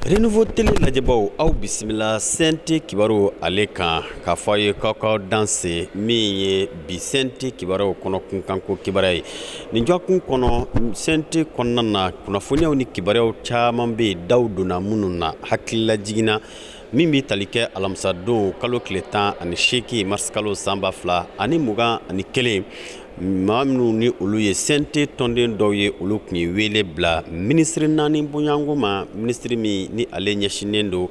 Renouveau Télé lajɛbaaw aw bisimila sente kibaru ale kan k'a fɔ a ye k'aw k'aw danse min ye bi sente kibaruw kɔnɔ kunkanko kibaruya ye nin jɔkun kɔnɔ sente kɔnɔna na kunnafoniyaw ni kibaruyaw caman bɛ yen daw donna minnu na hakililajiginna min bɛ tali kɛ alamisadon kalo tile tan ani seegin marisikalo san ba fila ani mugan ani kelen maa minnu ni olu ye sente tɔnden dɔw ye olu tun ye wele bila minisiri naani bonyako ma minisiri min ni ale ɲɛsinnen don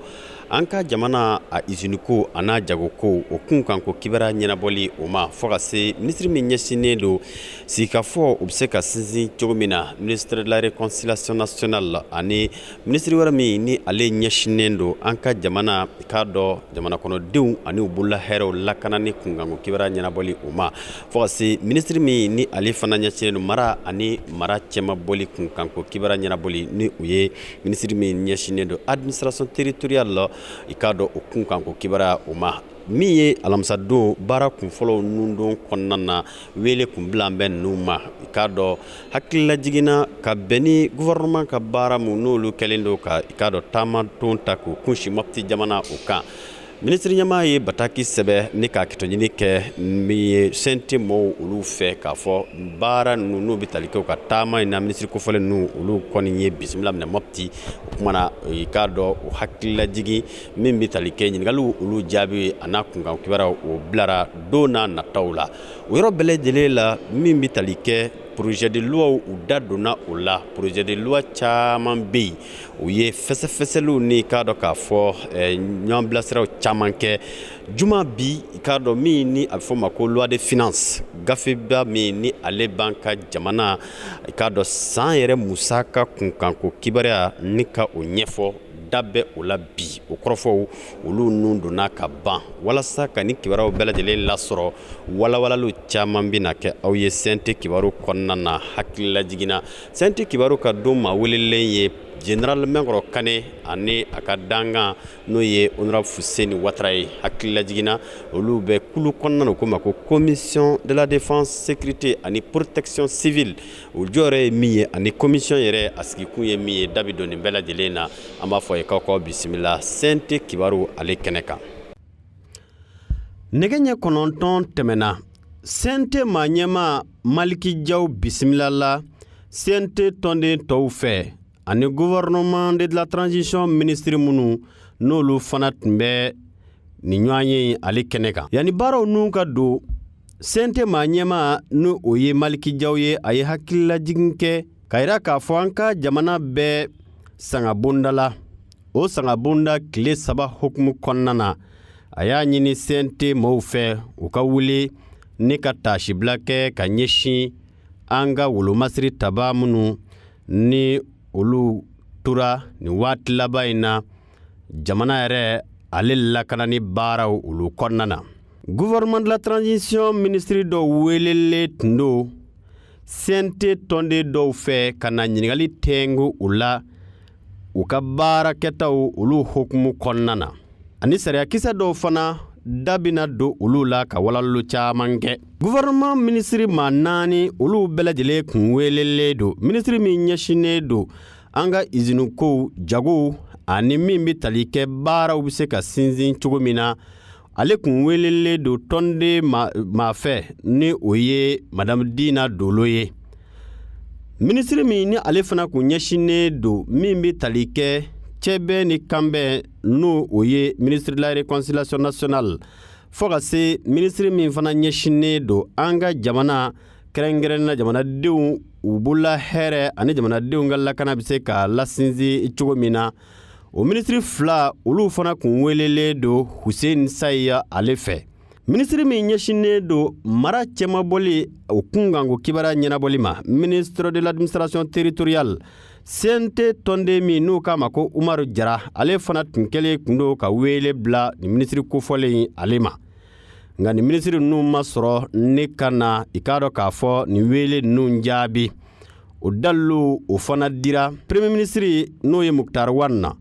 an ka jamana a iziniko a n'a jagoko o kunkanko kibara ɲɛnabɔli o ma fo ka se minisiri min ɲɛsinnen don sigikafɔ u bɛ se ka sinsin cogo min na ministre de la réconciliation nationale ani Minisiri wɛrɛ min ni ale ɲɛsinnen don an ka jamana i k'a dɔn jamana kɔnɔdenw ani u bolola hɛrɛw lakana ni kunkanko kibara ɲɛnabɔli o ma fo ka se minisiri min ni ale fana ɲɛsinnen don mara ani mara cɛmabɔli kunkanko kibara ɲɛnabɔli ni o ye minisiri min ɲɛsinnen don administration territoriale la i k'a dɔn o kunkanko kibara o ma min ye alamisadon baara kunfɔlɔw nundon kɔnɔna na wele tun bila bɛ ninnu ma i k'a dɔn hakilila jiginna ka bɛn ni gouvernement ka baara min n'olu kɛlen don ka i k'a dɔn taama dɔ ta k'u kunsin Mopti jamana o kan minisiri ɲɛmaa ye bataki sɛbɛn ni ka hakɛto ɲini kɛ min ye sente maaw olu fɛ k'a fɔ baara ninnu n'o bɛ tali kɛ u ka taama in na minisiri kofɔlen ninnu olu kɔni ye bisimila minɛ Mopti o kuma na i k'a dɔn o hakilila jigin min bɛ tali kɛ ɲininkaliw olu jaabi a n'a kunkanko kibaruya o bilara don n'a nataw la o yɔrɔ bɛɛ lajɛlen la min bɛ tali kɛ projet de loi u da donna o la projet de loi caman bɛ yen u ye fɛsɛfɛsɛliw ni i k'a dɔn k'a fɔ ɲɔgɔn bilasiraw caman kɛ juma bi i k'a dɔn min ni a bɛ fɔ ma ko loi de finance gafeba min ni ale b'an ka jamana i k'a dɔn san yɛrɛ musaka kunkanko kibaruya ni ka o ɲɛfɔ da bɛ o la bi o kɔrɔfɔw olu ninnu donna ka ban walasa ka nin kibaruyaw bɛɛ lajɛlen lasɔrɔ walawalaliw caman bɛna kɛ aw ye sente kibaru kɔnɔna na hakililajiginna sente kibaru ka don maa welelen ye Général Minkoro Kane ani a ka dankan n'o ye honorable Fuseni Watara ye hakililajiginna olu bɛ kulu kɔnɔna na ko ma ko commission de la défense sécurité ani protection civile o jɔyɔrɔ ye min ye ani commission yɛrɛ a sigikun ye min ye da bɛ don nin bɛɛ lajɛlen na an b'a fɔ ye k'aw k'aw bisimila sente kibaru ale kɛnɛ kan nɛgɛ ɲɛ kɔnɔntɔn tɛmɛna sente maa ɲɛmaa Maliki Jaw bisimilala sente tɔnden tɔw fɛ ani gouvernement de la transition ministre minnu n'olu fana tun bɛ nin ɲɔgɔn ye ale kɛnɛ kan yanni baaraw n'u ka don cnt maa ɲɛma ni o ye maliki jaw ye a ye hakililajigin kɛ k'a yira k'a fɔ an ka jamana bɛ sangabonda la o sangabonda tile saba hukumu kɔnɔna na a y'a ɲini cnt mɔɔw fɛ u ka wuli ni ka taasibila kɛ ka ɲɛsin an ka wolomasiri taba minnu ni olu tora nin waati laban in na jamana yɛrɛ ale lakanani baaraw olu kɔnɔna na gouvernement de la transition minisiri dɔw welelen tun don cnt tɔnden dɔw fɛ ka na ɲininkali tɛgo u la u ka baarakɛtaw olu hukumu kɔnɔna na ani sariyakisɛ dɔw fana da bɛna don olu la ka walawala caman kɛ gouvernement minisiri maa naani olu bɛɛ lajɛlen kun welelen don minisiri min ɲɛsinnen don an ka izinikow jagow ani min bɛ tali kɛ baaraw bɛ se ka sinsin cogo min na ale kun welelen don tɔnden maa fɛ ni o ye madamu dina dolo ye minisiri min ni ale fana kun ɲɛsinnen don min bɛ tali kɛ cɛbɛn ni kanbɛn n'o ye ministre de la réconciliation nationale fo ka se minisiri min fana ɲɛsinnen don an ka jamana kɛrɛnkɛrɛnnen na jamanadenw u bolola hɛrɛ ani jamanadenw ka lakana bɛ se ka lasinsin cogo min na o minisiri fila olu fana kun welelen don huseni sayiya ale fɛ minisiri min ɲɛsinnen don mara cɛmabɔli o kunkanko kibaruya ɲɛnabɔli ma ministre de l'administration territoriale cnt tɔnden min n'u k'a ma ko umaru jara ale fana tun kɛlen kun don ka wele bila nin minisiri kofɔlen ale ma nka nin minisiri ninnu ma sɔrɔ ni ka na i k'a dɔn k'a fɔ nin wele ninnu jaabi o dalilu o fana dira premier minisiri n'o ye mukutari wan na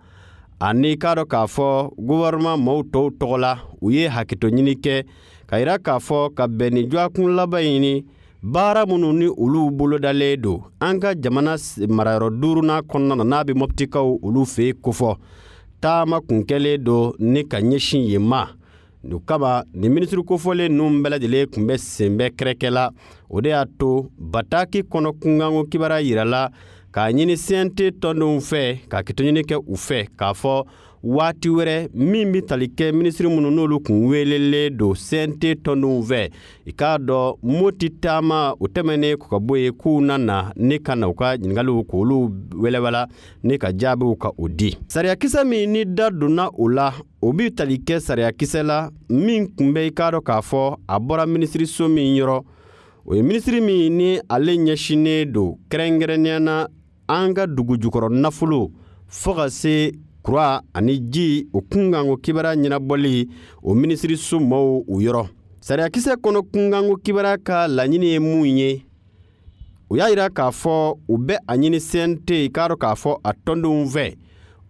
ani k'a dɔn k'a fɔ gouvernement mɔɔw tɔw tɔgɔ la u ye hakɛto ɲini kɛ k'a yira k'a fɔ ka bɛn ni dɔgɔkun laban nin baara minnu ni olu bolodalen don an ka jamana marayɔrɔ duurunan kɔnɔna na n'a bɛ mɔptikaw olu fɛ yen kofɔ taama kun kɛlen don ni ka ɲɛsin yen ma o kama nin minisiri kofɔlen ninnu bɛɛ lajɛlen kun bɛ sen bɛ kɛrɛkɛ la o de y'a to bataki kɔnɔ kunkanko kibaruya yirala k'a ɲini cnt tɔndenw fɛ ka hakɛto ɲini kɛ u fɛ k'a fɔ waati wɛrɛ min bɛ tali kɛ minisiri minnu n'olu kun welelen don cnt tɔndenw fɛ i k'a dɔn mɔti taama o tɛmɛnen kɔ ka bɔ yen k'u na na ni ka na u ka ɲininkaliw k'olu walawala ni ka jaabiw ka o di sariyakisɛ min ni da donna o la o bɛ tali kɛ sariyakisɛ la min tun bɛ i k'a dɔn k'a fɔ a bɔra minisiriso min yɔrɔ o ye minisiri min ni ale ɲɛsinnen don kɛrɛnkɛrɛnnenya na an ka dugu jukɔrɔ nafolo fo ka se kuran ani ji o kunkanko kibaruya ɲɛnabɔli o minisiriso mɔɔw u yɔrɔ sariyakisɛ kɔnɔ kunkanko kibaruya ka laɲini ye mun ye u y'a yira k'a fɔ u bɛ a ɲini cnt k'a dɔn k'a fɔ a tɔndenw fɛ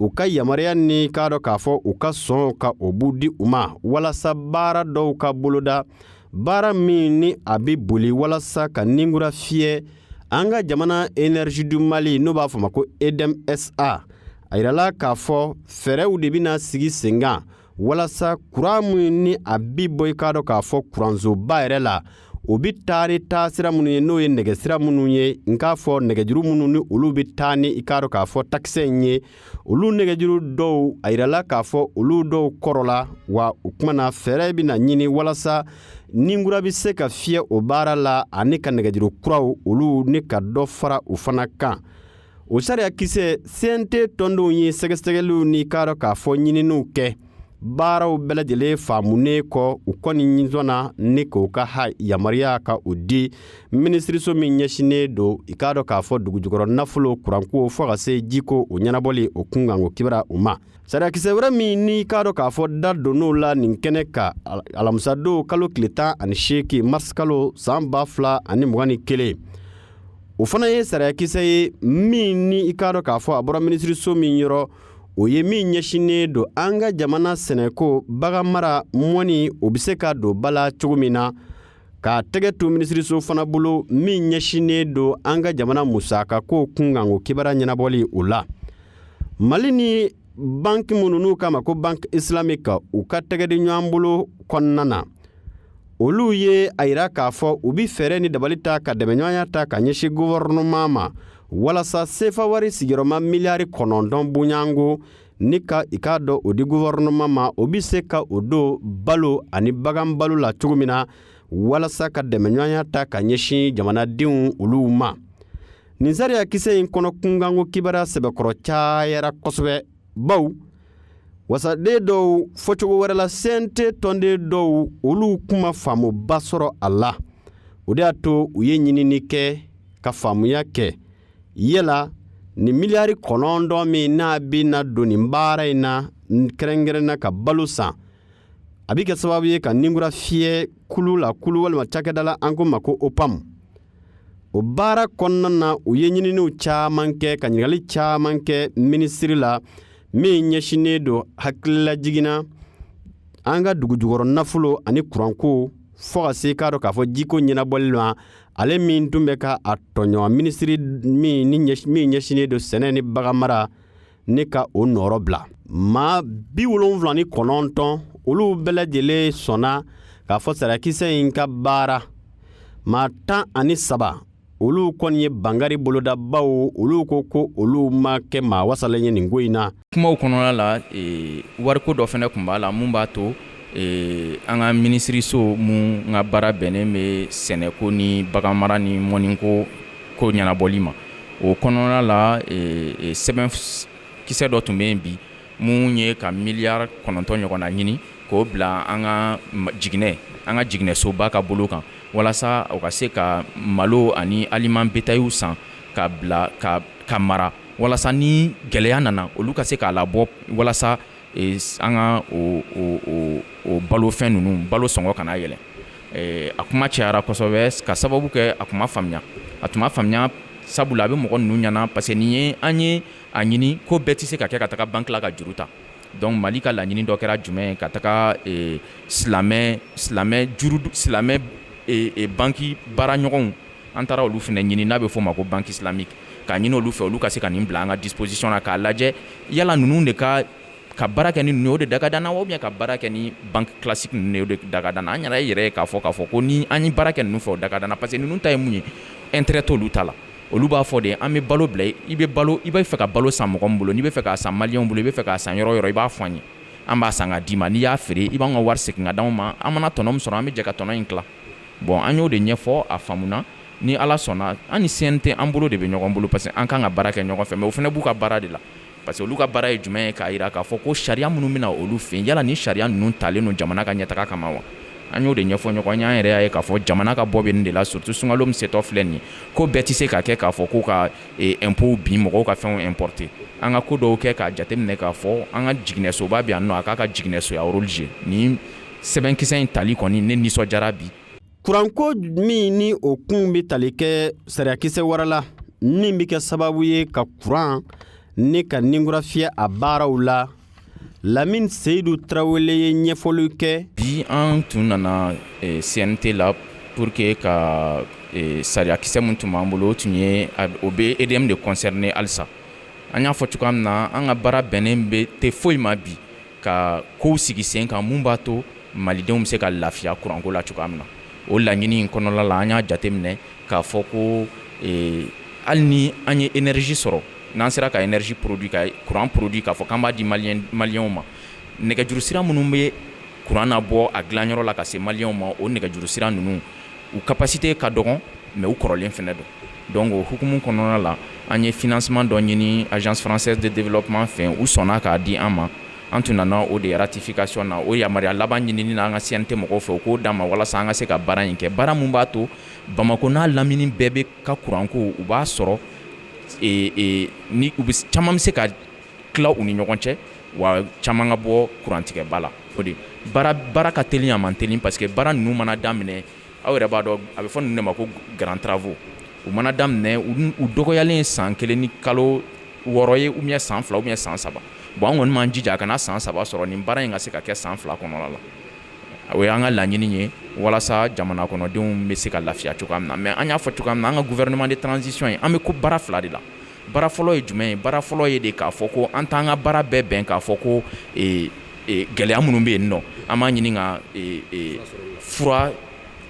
u ka yamaruya ni k'a dɔn k'a fɔ u ka sɔn ka o b'u di u ma walasa baara dɔw ka boloda baara min ni a bɛ boli walasa ka ninkura fiyɛ an ka jamana énergie du mali n'o b'a fɔ ma ko edmsa a yirala k'a fɔ fɛɛrɛw de bɛna sigi senkan walasa kuran min ni a bi bɔ i k'a dɔn k'a fɔ kuransoba yɛrɛ la o bɛ taa ni taa sira minnu ye n'o ye nɛgɛsira minnu ye n k'a fɔ nɛgɛjuru minnu ni olu bɛ taa ni i k'a dɔn k'a fɔ takisɛ in ye olu nɛgɛjuru dɔw a yirala k'a fɔ olu dɔw kɔrɔla wa o tuma na fɛɛrɛ bɛna ɲini walasa ninkura bɛ se ka fiyɛ o baara la ani ka nɛgɛjuru kuraw olu ni ka dɔ fara u fana kan o sariyakisɛ cnt tɔndenw ye sɛgɛsɛgɛliw ni k'a dɔn k'a fɔ ɲininiw kɛ baaraw bɛɛ lajɛlen faamunen kɔ u kɔni ɲin sɔnna ni k'u ka ha yamaruya ka o di minisiriso min ɲɛsinnen don i k'a dɔn k'a fɔ dugujukɔrɔ nafolo kuranko fo ka se jiko o ɲɛnabɔli o kunkanko kibaruya u ma sariyakisɛ wɛrɛ min n'i k'a dɔn k'a fɔ da donn'o la nin kɛnɛ kan alamisadon kalo tile tan ani seegin mars kalo san ba fila ani mugan ni kelen o fana ye sariyakisɛ ye min ni i k'a dɔn k'a fɔ a bɔra minisiriso min yɔrɔ o ye min ɲɛsinnen don an ka jamana sɛnɛko bagan mara mɔni o bɛ se ka don ba la cogo min na k'a tɛgɛ to minisiriso fana bolo min ɲɛsinnen don an ka jamana musakako kunkanko kibaruya ɲɛnabɔli o la mali ni banki minnu n'u k'a ma ko banki islamique u ka tɛgɛdi ɲɔgɔn bolo kɔnɔna na olu ye a yira k'a fɔ u bɛ fɛɛrɛ ni dabali ta ka dɛmɛɲɔgɔnya ta ka ɲɛsin gɔvɛrɛnɛman ma walasa sefa wari sigiyɔrɔma miliyari kɔnɔntɔn bonyanko ni ka i k'a dɔn o di gɔvɛrɛnɛman ma o bɛ se ka o don balo ani bagan balo la cogo min na walasa ka dɛmɛɲɔgɔnya ta ka ɲɛsin jamanadenw olu ma nin sariyakisɛ in kɔnɔ kunkanko kibaruya sɛbɛkɔrɔ cayara kosɛbɛ baw wasaden dɔw fɔcogo wɛrɛ la cnt tɔnden dɔw olu tun ma faamuba sɔrɔ a la o de y'a to u ye ɲinini kɛ ka faamuya kɛ yala nin miliyari kɔnɔntɔn min n'a bɛna don nin baara in na kɛrɛnkɛrɛnna ka balo san a bɛ kɛ sababu ye ka ninkura fiyɛ kulu la kulu walima cakɛda la an ko ma ko opam o baara kɔnɔna na u ye ɲininiw caman kɛ ka ɲininkali caman kɛ minisiri la min ɲɛsinnen don hakililajigin na an ka dugujukɔrɔ nafolo ani kuranko fo ka se k'a dɔn k'a fɔ jiko ɲɛnabɔli ma ale min tun bɛ ka a tɔɲɔgɔn minisiri min ɲɛsinnen don sɛnɛ ni baganmara ne ka o nɔrɔbila maa bi wolonfila ni kɔnɔntɔn olu bɛɛ lajɛlen sɔnna k'a fɔ sariyakisɛ in ka baara maa tan ani saba olu kɔni ye bangari bolodabaw olu ko ko olu ma kɛ maa wasalen ye nin ko in na kumaw kɔnɔna la e, wariko dɔ fɛnɛ kun b'a la mun b'a to Ee an ka minisiririso mun ka baara bɛnnen bɛ sɛnɛko ni bagan mara ni mɔniko ko ɲɛnabɔli ma o kɔnɔna la sɛbɛn kisɛ dɔ tun bɛ yen bi mun ye ka miliyari kɔnɔntɔn ɲɔgɔnna ɲini k'o bila an ka jiginɛsoba ka bolo kan walasa o ka se ka malo ani aliment bétail san ka bila ka mara walasa ni gɛlɛya nana olu ka se k'a labɔ walasa an ka o balofɛn ninnu balo sɔngɔ kana yɛlɛ a kuma cayara kosɛbɛ k'a sababu kɛ a kun ma faamuya a tun ma faamuya sabula a bɛ mɔgɔ ninnu ɲɛna parce que nin ye an ye a ɲini ko bɛɛ tɛ se ka kɛ ka taga banki la ka juru ta donc mali ka laɲini dɔ kɛra jumɛn ye ka taga silamɛ banki baara ɲɔgɔnw an taara olu fana ɲini n'a bɛ fɔ o ma ko banque islamique k'a ɲini olu fɛ olu ka se ka nin bila an ka disposition na k'a lajɛ yala ninnu de ka ka baara kɛ ni ninnu ye o de da ka d'an na wa ka baara kɛ ni banque classique ninnu ye o de da ka d'an na an yɛrɛ y'a ye k'a fɔ ko ni an ye baara kɛ ninnu fɛ o da ka d'an na parce que ninnu ta ye mun ye intérêt t'olu ta la olu b'a fɔ de an bɛ balo bila i bɛ balo i bɛ fɛ ka balo san mɔgɔ min bolo n'i bɛ fɛ k'a san maliyɛnw bolo i bɛ fɛ k'a san yɔrɔ o yɔrɔ i b'a fɔ an ye an b'a san k'a d'i ma n'i y'a feere i b'an ka wari segin ka d'anw ma an mana tɔnɔ min sɔrɔ an bɛ jɛ ka tɔnɔ in tila bon an y'o de ɲɛfɔ a faamuna ni ala sɔnna an ni cnt an bolo de bɛ ɲɔgɔn bolo parce que an kan ka baara kɛ ɲɔgɔn fɛ mais o fana b'u ka baara de la parce que olu ka baara ye jumɛn ye k'a jira k'a fɔ ko sariya minnu bɛ na olu fɛ yala ni sariya ninnu talen don jamana ka ɲɛtaga kama wa an y'o de ɲɛfɔ ɲɔgɔn ye an yɛrɛ y'a ye k'a fɔ jamana ka bɔ bɛ nin de la surtout sunkalo min setɔ filɛ nin ye ko bɛɛ tɛ se ka kɛ k'a fɔ ko ka impôt eh, bin mɔgɔw ka fɛnw importer an ka ko dɔw kɛ k'a jateminɛ k'a fɔ an ka jiginɛsoba bɛ yan non a k'a ka jiginɛsoya rôle jouer nin sɛbɛnkisɛ in tali kɔni ne nisɔndiyara bi kuranko min ni o kun bɛ tali kɛ sariyakisɛ wɛrɛ la min bɛ kɛ sababu ye ka kuran ni ka nin kura fiyɛ a baaraw la lamini seyidu tarawele ye ɲɛfɔli kɛ bi an tun nana eh, cnt la pour que ka eh, sariyakisɛ min tun b'an bolo o tun ye o bɛ edm de concerner halisa an y'a fɔ cogoya min na an ka baara bɛnnen bɛ tɛ foyi ma bi ka kow sigi sen kan mun b'a to malidenw bɛ se ka lafiya kuranko la cogoya min na o laɲini in kɔnɔla la an y'a jateminɛ k'a fɔ ko eh, hali ni an ye énergie sɔrɔ n'an sera ka énergie produit ka kuran produit k'a fɔ k'an b'a di maliyɛnw ma nɛgɛjuru sira minnu bɛ kuran na bɔ a dilanyɔrɔ la ka se maliyɛnw ma o nɛgɛjuru sira ninnu u capacité ka dɔgɔn mais u kɔrɔlen fɛnɛ don Donc o hukumu kɔnɔna la an ye financement dɔ ɲini agence française de développement fɛ u sɔnna k'a di an ma an tun nana o de ratification na o yamaruya laban ɲinini na an ka CNT mɔgɔw fɛ u k'o d'an ma walasa an ka se ka baara in kɛ baara min b'a to bamakɔ n'a lamini bɛɛ bɛ ka kuranko u b'a sɔrɔ ni u bɛ caman bɛ se ka tila u ni ɲɔgɔn cɛ wa caman ka bɔ kurantigɛba la o de baara ka teli a man teli parce que baara ninnu mana daminɛ Aw yɛrɛ b'a dɔn a bɛ fɔ ninnu de ma ko grands travaux u mana daminɛ u dɔgɔyalen ye san kelen ni kalo wɔɔrɔ ye ou bien san fila ou bien san saba bon an kɔni m'an jija a kana san saba sɔrɔ nin baara in ka se ka kɛ san fila kɔnɔla la o y'an ka laɲini ye walasa jamana kɔnɔdenw bɛ se ka lafiya cogoya min na mais an y'a fɔ cogoya min na an ka gouvernement de transition in an bɛ ko baara fila de la baara fɔlɔ ye jumɛn ye baara fɔlɔ ye de k'a fɔ ko an t'an ka baara bɛɛ bɛn k'a fɔ ko gɛlɛya minnu bɛ yen nɔ an b'a ɲini ka fura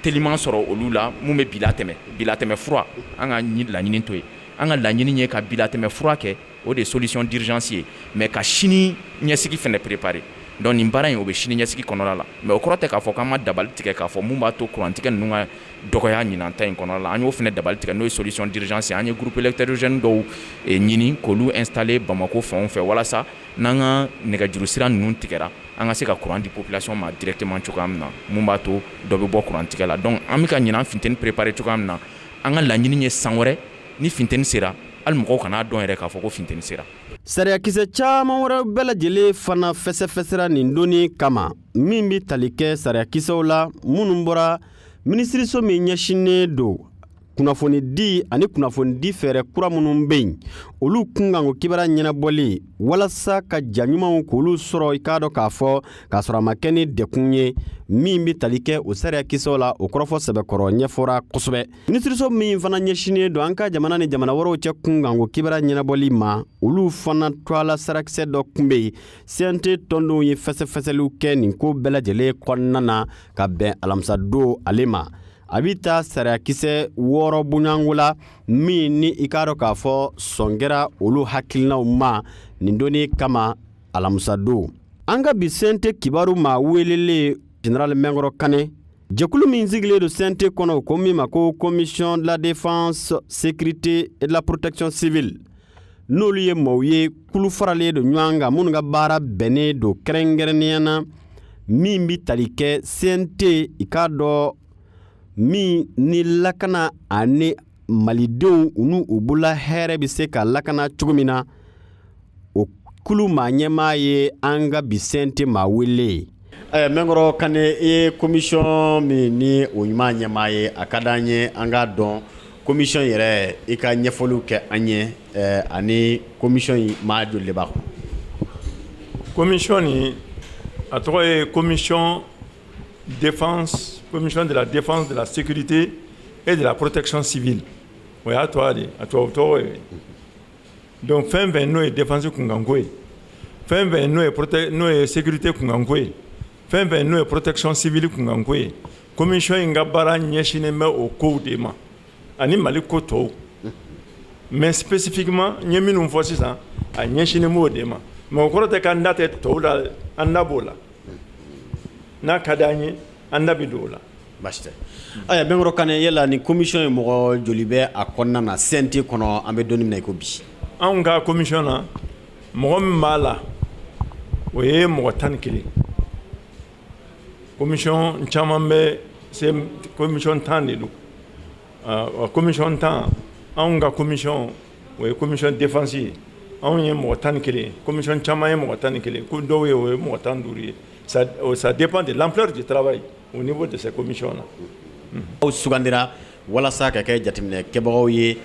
teliman sɔrɔ olu la min bɛ bilatɛmɛ bilatɛmɛ fura an ka laɲini t'o ye an ka laɲini ye ka bilatɛmɛ fura kɛ o de solution d'urgence ye mais ka sini ɲɛsigi fɛnɛ préparer donc nin baara in o bɛ sini ɲɛsigi kɔnɔla la mais o kɔrɔ tɛ k'a fɔ k'an ma dabali tigɛ k'a fɔ mun b'a to kurantigɛ ninnu ka dɔgɔya ɲinan ta in kɔnɔna la an y'o fɛnɛ dabali tigɛ n'o ye solution d'urgence an ye groupe électrogène dɔw eh, ɲini k'olu installer Bamako fanw fɛ walasa n'an ka nɛgɛjuru sira ninnu tigɛra an ka se ka courant di population ma directement cogoya min na mun b'a to dɔ bɛ bɔ courant tigɛ la donc an bɛ ka ɲinan funteni préparer cogoya min na an ka laɲini ye san wɛrɛ ni funteni sera hali mɔgɔw kana dɔn yɛrɛ k'a fɔ ko funteni sera sariyakisɛ caman wɛrɛ bɛɛ lajɛlen fana fɛsɛfɛsɛra nin don in kama min bɛ tali kɛ sariyakisɛw la minnu bɔra minisiriso min ɲɛsinnen don kunnafonidi ani kunnafonidi fɛɛrɛ kura minnu bɛ yen olu kunkanko kibaruya ɲɛnabɔli walasa ka ja ɲumanw k'olu sɔrɔ i k'a dɔn k'a fɔ k'a sɔrɔ a ma kɛ ni degun ye min bɛ tali kɛ o sariyakisɛw la o kɔrɔfɔ sɛbɛkɔrɔ ɲɛfɔra kosɛbɛ minisiriso min fana ɲɛsinnen don an ka jamana ni jamana wɛrɛw cɛ kunkanko kibaruya ɲɛnabɔli ma olu fana tɔgɔla sariyakisɛ dɔ kun bɛ yen CNT tɔndenw ye fɛsɛfɛsɛliw kɛ nin ko bɛɛ lajɛlen kɔnɔna na ka bɛn alamisadon ale ma a bɛ taa sariyakisɛ wɔɔrɔ bɔɲɔgɔnko la min ni i k'a dɔn k'a fɔ sɔn kɛra olu hakilinaw ma nin don in kama alamisadon an ka bi CNT kibaru maa welelen général Mɛnkɔrɔ Kanɛ jɛkulu min sigilen don CNT kɔnɔ ko min ma ko commission de la défense sécurité et de la protection civile n'olu ye maaw ye kulu faralen don ɲɔgɔn kan minnu ka baara bɛnnen don kɛrɛnkɛrɛnnenya na min bɛ tali kɛ cnt i k'a dɔn min ni lakana ani malidenw u n'u u bolola hɛrɛ bɛ se ka lakana cogo min na o kulu maa ɲɛmaa ye an ka bi cnt maa wele ye Mɛnkɔrɔ Kanɛ i ye komisɔn min ni o ɲuman ɲɛmaa ye a ka di an ye an k'a dɔn komisɔn yɛrɛ i ka ɲɛfɔliw kɛ an ye ani komisɔn in maa joli de b'a kɔnɔ komisɔn nin a tɔgɔ ye commission de la défense de la sécurité et de la protection civile o y'a tɔgɔ de a tubabu tɔgɔ ye Donc fɛn fɛn n'o ye défense kunkanko ye fɛn fɛn n'o ye sécurité kunkanko ye fɛn fɛn n'o ye protection civile kunkanko ye commission in ka baara ɲɛsinnen bɛ o kow de ma ani mali ko tɔw mais spécifiquement n ye minnu fɔ sisan a ɲɛsinnen b'o de ma mais o kɔrɔ tɛ k'an da tɛ tɔw la an da b'o la n'a ka d'an ye An da bɛ don o la basi tɛ Mɛnkɔrɔ Kanɛ yala nin commission ye mɔgɔ joli bɛ a kɔnɔna na cnt kɔnɔ an bɛ don min na i ko bi anw ka commission na mɔgɔ min b'a la o ye mɔgɔ tan ni kelen commission caman bɛ se commission tan de don commission tan anw ka commission o ye commission défense ye anw ye mɔgɔ tan ni kelen commission caman ye mɔgɔ tan ni kelen ko dɔw ye o ye mɔgɔ tan duuru ye ça dépend de l'ampleur du travail au niveau de ces commissions là aw sugandira walasa ka kɛ jateminɛ kɛbagaw ye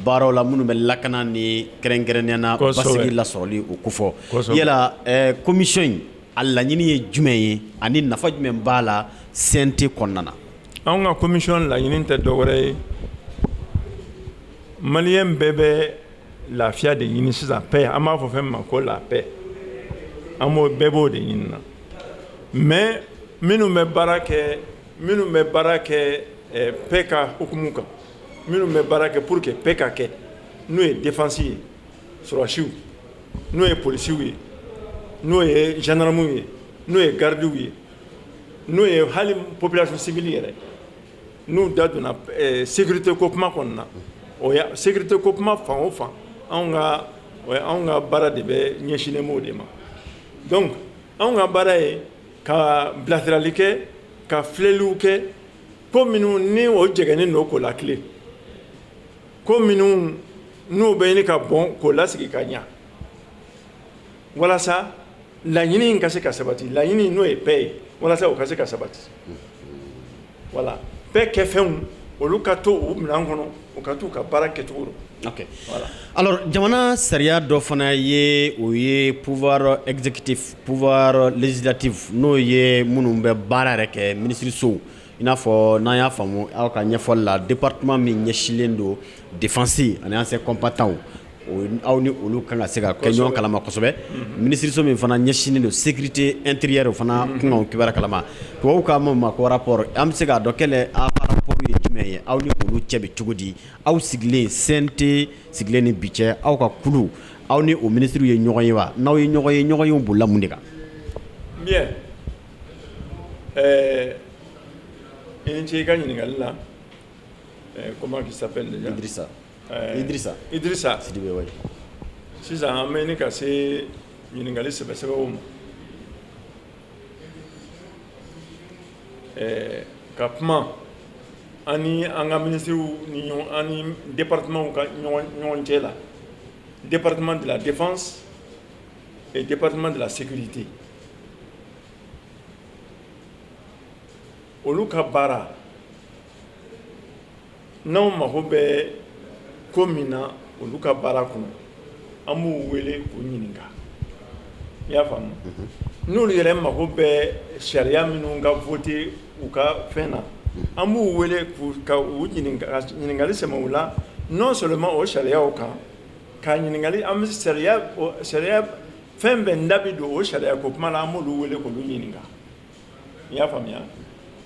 baaraw la minnu bɛ lakana ni kɛrɛnkɛrɛnnenya na basigi lasɔrɔli o kofɔ yala commission in a laɲini ye jumɛn ye ani nafa jumɛn b'a la cnt kɔnɔna na anw ka commission laɲini tɛ dɔwɛrɛ ye mali bɛɛ bɛ lafiya de ɲini sisan paix an b'a fɔ fɛn min ma ko la paix an b'o bɛɛ b'o de ɲini na mais minnu bɛ baara kɛ minnu bɛ baara kɛ eh, paix ka hukumu kan minnu bɛ baara kɛ pour que paix ka kɛ n'o ye défense ye sɔrɔdasiw n'o ye polisiw ye n'o ye gendarmew ye n'o ye gardiw ye n'o ye hali population civile yɛrɛ N'u da donna sécurité ko kuma kɔnɔna na o ya sécurité ko kuma fan o fan anw ka baara de bɛ ɲɛsinnen b'o de ma donc anw ka baara ye ka bilasirali kɛ ka filɛliw kɛ ko minnu ni o jɛgɛnnen don k'o latilen ko minnu n'u bɛ ɲini ka bɔn k'o lasigi ka ɲɛ walasa laɲini ka se ka sabati laɲini n'o ye paix ye walasa o ka se ka sabati voilà paix kɛfɛnw olu ka to u minɛn kɔnɔ u ka t'u ka baara kɛcogo dɔn voilà alors jamana sariya dɔ fana ye o ye pouvoir exécutif pouvoir législatif n'o ye minnu bɛ baara yɛrɛ kɛ minisirisow i n'a fɔ n'an y'a faamu aw ka ɲɛfɔli la département min ɲɛsinlen don défense ani anciens combattants aw ni olu kan ka se ka kɛ ɲɔgɔn kalama kosɛbɛ minisiriso min fana ɲɛsinnen don sécurité intérieure o fana kunkanw kibaru kalama tubabuw k'a ma ko rapport an bɛ se k'a dɔn quel est aw rapport ye jumɛn ye aw ni olu cɛ bɛ cogo di aw sigilen CNT sigilen ni bi cɛ aw ka kulu aw ni o minisiriw ye ɲɔgɔn ye wa n'aw ye ɲɔgɔn ye ɲɔgɔnyew bolila mun de kan ɛɛ i ni ce i ka ɲininkali la comment il Idrissa Idrissa Sidibe oui sisan an bɛ ɲini ka se ɲininkali sɛbɛ sɛbɛw ma ɛɛ ka kuma an ni an ka minisiriw ni ɲɔgɔn an ni departemanw ka ɲɔgɔn cɛ la département de la défense et département de la sécurité olu ka baara n'anw mago bɛ ko min na olu ka baara kɔnɔ an b'u wele k'u ɲininka i y'a faamu n'olu yɛrɛ mago bɛ sariya minnu ka voter u ka fɛn na an b'u wele ka ɲininkali sɛmɛ u la non seulement o sariyaw kan ka ɲininkali an sariya fɛn bɛɛ an da bɛ don o sariya ko kuma la an b'olu wele k'olu ɲininka i y'a faamuya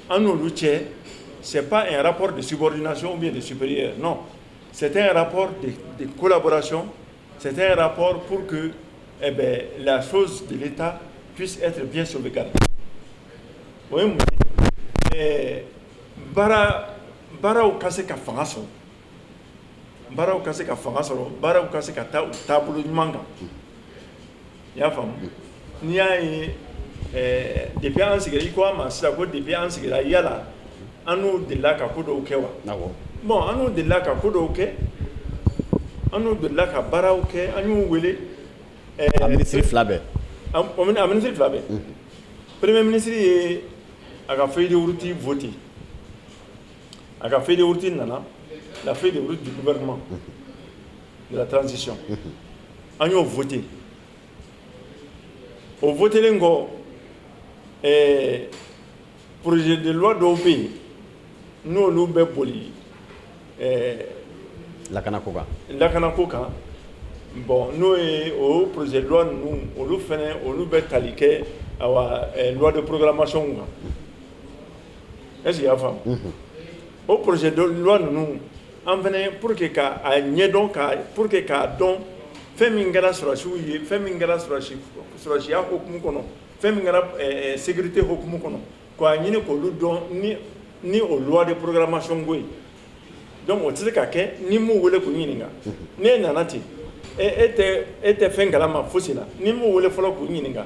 an n'olu cɛ c'est pas un rapport de subordination ou bien de supérieur non c'est un rapport de collaboration c'est un rapport pour que eh bien la chose de l'État puisse être bien sauvegardée o ye mun ye ɛɛ baara baaraw ka se ka fanga sɔrɔ baaraw ka se ka fanga sɔrɔ baaraw ka se ka taa u taabolo ɲuman kan i y'a faamu n'i y'a ye ɛɛ depuis an sigira i ko an ma sisan ko depuis an sigira yala an n'u delila ka ko dɔw kɛ wa, awɔ, bon an n'u delila ka ko dɔw kɛ an n'u delila ka baaraw kɛ an y'u wele ɛɛ a minisiri fila bɛɛ, a minisiri fila bɛɛ, unhun, premier minisiri ye a ka feuille de route voter a ka feuille de route nana la feuille de route du gouvernement de la transition an y'o fɔte o fɔtlen kɔ pzeliwa dɔw bɛ yen n'olu bɛ boli lakana ko kan lakana ko kan bɔn n'o ye o pzeliwa ninnu olu fana olu bɛ tali kɛ de porourmasiyw kan e y'a faamu o pzeliwa ninnu an fɛnɛ pour que ka a ɲɛdɔn pour que k'a dɔn fɛn min kɛra sɔrɔdasiw ye fɛn min kɛra sɔrɔdasiya hukumu kɔnɔ fɛn min kɛra sécurité hukumu kɔnɔ k'a ɲini k'olu dɔn ni o loi de programmation ko ye donc o tɛ se ka kɛ n'i m'u wele k'u ɲininka n'e nana ten e tɛ fɛn kalama fosi la n'i m'u wele fɔlɔ k'u ɲininka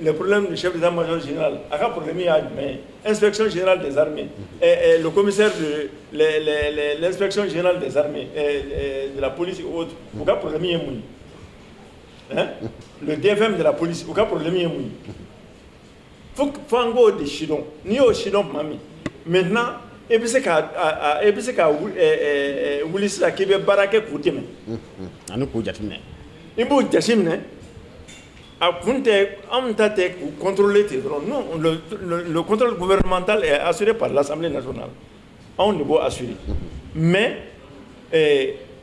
Les problèmes du chef d'état major général a ka problème ye jumɛn ye? inspection générale des armées ɛɛ le commissaire de ɛɛ l'inspection générale des armées ɛɛ de la police et autres u ka problème ye mun ye? Hein? le DFM de la police u ka problème ye mun ye? Fo an k'o de sidɔn, n'i y'o sidɔn tuma min maintenant i bɛ se ka a a i bɛ se ka wuli ɛɛ ɛɛ wuli sisan k'i bɛ baara kɛ k'u dɛmɛ, unhun, ani k'u jateminɛ, i b'u jateminɛ A kun tɛ anw ta tɛ u kɔntlen ten dɔrɔnto bɛman ta a siri pala sa na anw de bɔ a siri mɛ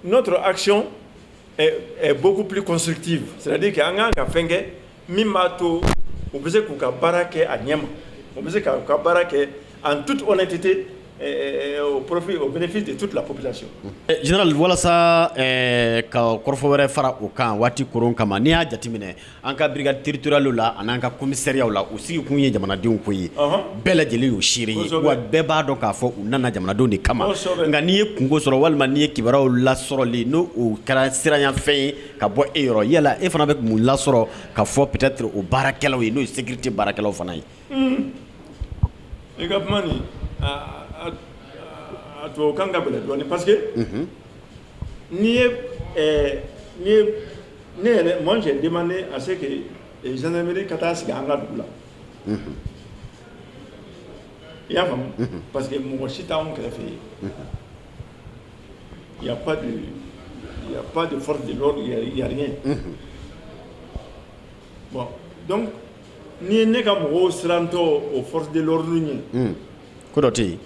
n'o tora asiyɛn bɔkosiurutigi siradi kɛ an kan ka fɛn kɛ min b'a to u bɛ se k'u ka baara kɛ a ɲɛ ma u bɛ se k' ka baara kɛ an tu tɛ tɛ profit au bénéfice de toute la population Général walasa ka kɔrɔfɔ wɛrɛ fara o kan waati koron kama n'i y'a jateminɛ an ka brigade territoriale la ani an ka commissariatw la u sigi kun ye jamanadenw ko ye bɛɛ lajɛlen y'o seere ye wa bɛɛ b'a dɔn k'a fɔ u nana jamanadenw de kama nka n'i ye kunko sɔrɔ walima n'i ye kibaruyaw lasɔrɔli n'o kɛra siranyafɛn ye ka bɔ e yɔrɔ yala e fana bɛ mun lasɔrɔ k'a fɔ peut-être o baarakɛlaw ye n'o ye sécurité baarakɛlaw fana ye I ka kuma nin a tubabukan ka gɛlɛn dɔɔnin parce que n'i ye ne yɛrɛ moi j'ai demandé à ce que gendarmerie ka taa sigi an ka dugu la i y'a faamu parce que mɔgɔ si t'anw kɛrɛfɛ yen il y a pas de il y a pas de force de l'ordre il y a rien donc n'i ye ne ka mɔgɔw sirantɔ o force de l'ordre ɲɛ ko dɔ tɛ yen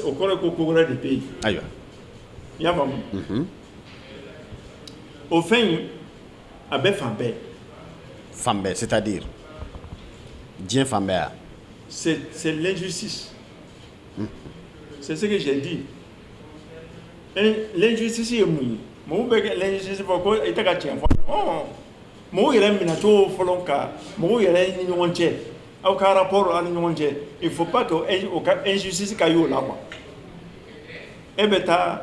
o kɔrɔ ko ko wɛrɛ de bɛ yen ayiwa i y'a faamu o fɛn in a bɛ fan bɛɛ fan bɛɛ c'est-à-dire diɲɛ fan bɛɛ yan c'est l'injustice c'est ce que j'ai dit l'injustice ye mun ye mɔgɔw bɛ kɛ l'injustice fɔ ko e tɛ ka cɛn fɔ mɔgɔw yɛrɛ minɛcogo fɔlɔ ka mɔgɔw yɛrɛ ni ɲɔgɔn cɛ aw ka rapport aw ni ɲɔgɔn cɛ il faut pas que o ka injustice ka y'o la quoi e bɛ taa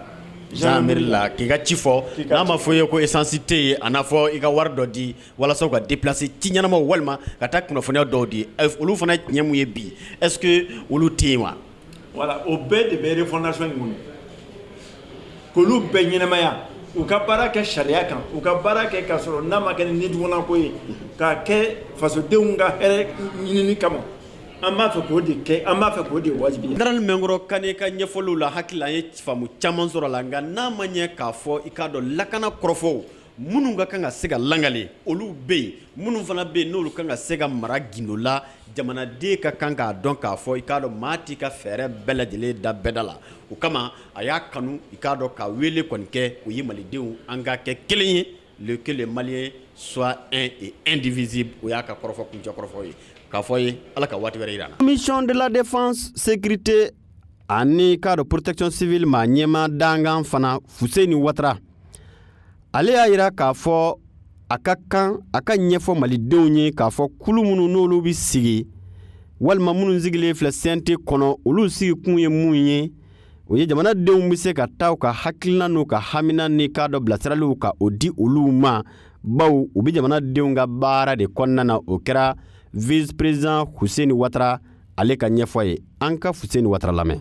gendarmerie la k'i ka ci fɔ n'a ma fɔ i ye ko essence tɛ yen a n'a fɔ i ka wari dɔ di walasa u ka déplacer ci ɲɛnamaw walima ka taa kunnafoniya dɔw di olu fana tiɲɛ min ye bi est ce que olu tɛ yen wa. voilà o bɛɛ de bɛ refondation in kɔnɔ k'olu bɛɛ ɲɛnamaya u ka baara kɛ sariya kan u ka baara kɛ k'a sɔrɔ n'a ma kɛ ni nidungɔlako ye k'a kɛ fasodenw ka hɛrɛ ɲinini kama an b'a fɛ k'o de kɛ an b'a fɛ k'o de wajibiya Général Mɛnkɔrɔ Kane ka ɲɛfɔliw la hakili la an ye faamu caman sɔrɔ a la nka n'a ma ɲɛ k'a fɔ i k'a dɔn lakana kɔrɔfɔw Minnu ka kan ka se ka langale olu bɛ yen minnu fana bɛ yen n'olu kan ka se ka mara gindo la jamanaden ka kan k'a dɔn k'a fɔ i k'a dɔn maa t'i ka fɛɛrɛ bɛɛ lajɛlen da bɛɛ da la o kama a y'a kanu i k'a dɔn ka wele kɔni kɛ o ye malidenw an ka kɛ kelen ye que les maliens soient un et indivisible o y'a ka kɔrɔfɔ kuncɛ kɔrɔfɔ ye k'a fɔ ye ala ka waati wɛrɛ yira an na commission de la défense sécurité ani k'a dɔn protection civile maa ɲɛmaa dankan fana fuseni watara ale y'a yira k'a fɔ a ka kan a ka ɲɛfɔ malidenw ye k'a fɔ kulu minnu n'olu bɛ sigi walima minnu sigilen filɛ CNT kɔnɔ olu sigikun ye mun ye o ye jamanadenw bɛ se ka taa u ka hakilina n'u ka hamina ni k'a dɔn bilasiraliw ka o di olu ma bawo u bɛ jamanadenw ka baara de kɔnɔna na o kɛra vice président fuseni watara ale ka ɲɛfɔ ye an ka fuseni watara lamɛn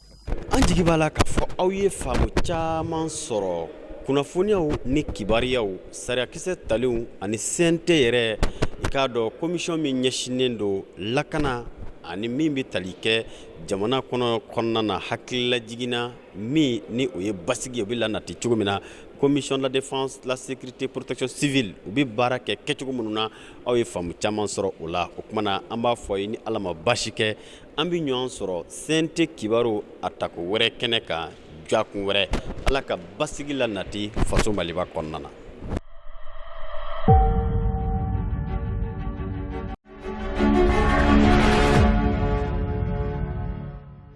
an jigi b'a la k'a fɔ aw ye faamu caman sɔrɔ kunnafoniyaw ni kibaruyaw sariyakisɛ talenw ani CNT yɛrɛ i k'a dɔn commission min ɲɛsinnen don lakana ani min bɛ tali kɛ jamana kɔnɔ kɔnɔna na hakililajiginna min ni o ye basigi ye o bɛ lanati cogo min na commission de la défense la sécurité protection civile u bɛ baara kɛ kɛcogo minnu na aw ye faamu caman sɔrɔ o la o kuma na an b'a fɔ a ye ni ala ma baasi kɛ an bɛ ɲɔgɔn sɔrɔ CNT kibaru a tako wɛrɛ kɛnɛ kan jakun wɛrɛ ala ka basigi la nati faso maliba kɔnɔna na